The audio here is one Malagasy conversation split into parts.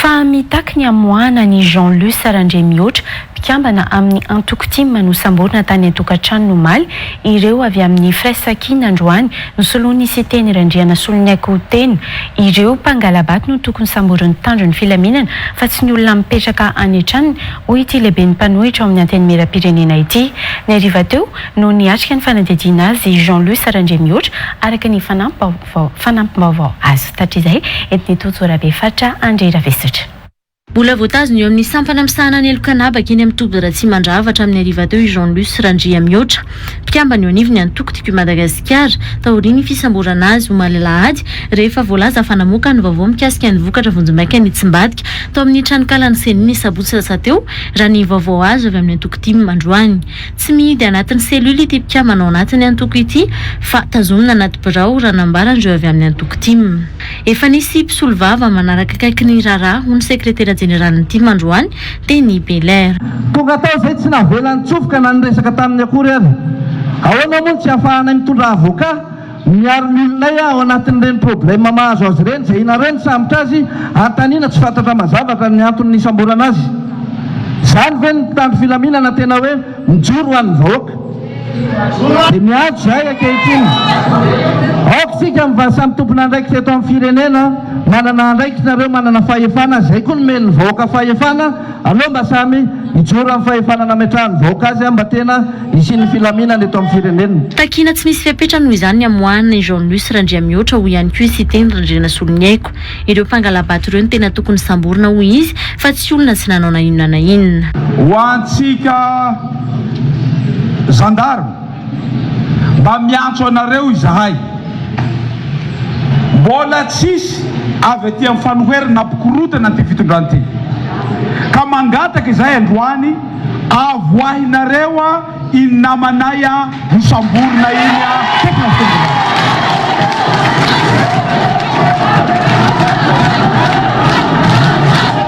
Fa mitaky ny hamoahana an'i Jean Luce Randriamihoatra, mpikambana amin'ny antoko tim nosamborina tany an-tokantranony omaly, ireo avy amin'ny Firaisankina androany nosoloan'i Siteny Randrianasoloniaiko tena. Ireo mpangala-bato no tokony samborin'ny mpitandro ny filaminana fa tsy ny olona mipetraka any an-tranony, hoy ity lehiben'ny mpanohitra ao amin'ny Antenimierampirenena ity. Ny hariva teo no niatrika ny fanadihadiana azy i Jean Luce Randriamihoatra, araka ny fanampi-baovao. Vao fanampim-baovao azo tatrizay eto ny Tojo Rabefatra Andry Ravesatra. Mbola voatazona eo amin'ny sampana misahana ny heloka an'habaka eny amin'ny toby Ratsimandrava hatramin'ny hariva teo i Jean Luce Randriamihoatra, mpikambana eo anivon'ny antoko Tiako i Madagasikara, taorian'ny fisamborana azy omaly alahady rehefa voalaza fa namoaka ny vaovao mikasika ny vokatra vonjimaika nitsimbadika tao amin'ny tranonkalan'ny Ceni ny sabotsy lasa teo, raha ny vaovao azo avy amin'ny antoko tim androany. Tsy mihidy anatin'ny cellule ity mpikambana ao anatin'ny antoko ity fa tazomina anaty birao, raha nambaran'ireo avy amin'ny antoko tim. Efa nisy mpisolovava manaraka akaiky ny raharaha, hoy ny sekretera jeneralin'ny tim androany, Denis Belair. Tonga tao izay tsy navela nitsofoka na niresaka taminy akory ary. Ahoana moa no tsy ahafahanay mitondra avocat? Miaro ny olonay aho anatin'ireny problème mahazo azy ireny, izay ianareo no sambotra azy, antanina tsy fantatra mazava ka ny antony nisamborana azy. Izany ve ny mpitandro filaminana tena hoe mijoro ho an'ny vahoaka? Dia miantso izahay ankehitriny, aoka isika mivaha samy tompon'andraikitra eto amin'ny firenena, manana andraikitra ireo manana fahefana, izay koa nomeny ny vahoaka fahefana Aleo mba samy hijoro amin'ny fahefana nametrahan' ny vahoaka azy mba tena hisian'ny filaminana eto amin'ny firenena. Takiana tsy misy fepetra noho izany ny hamoahana i Jean Luce Randriamihoatra, hoy ihany koa i Siteny Randrianasoloniaiko. Ireo mpangalabato ireo no tena tokony samborina, hoy izy, fa tsy olona tsy nanao na inona na inona. Ho antsika zandary. Mba miantso anareo izahay. Mbola tsisy avy aty amin'ny fanoherana nampikorontana an'ity fitondrana ity. Ka mangataka izahay androany, avoahinareo iny namanay nosamborina iny teto amin'ny fitondrana.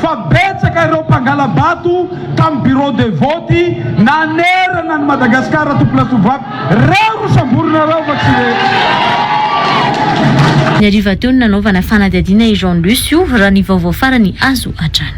fa betsaka ireo mpangala-bato tamin'ny bureau de vote nanerana an'i Madagascar ato Place Ouvatte, reo no samborina reo fa tsy ireny. Ny hariva teo no nanaovana fanadihadiana i Jean Lucio, raha ny vaovao farany azo hatrany.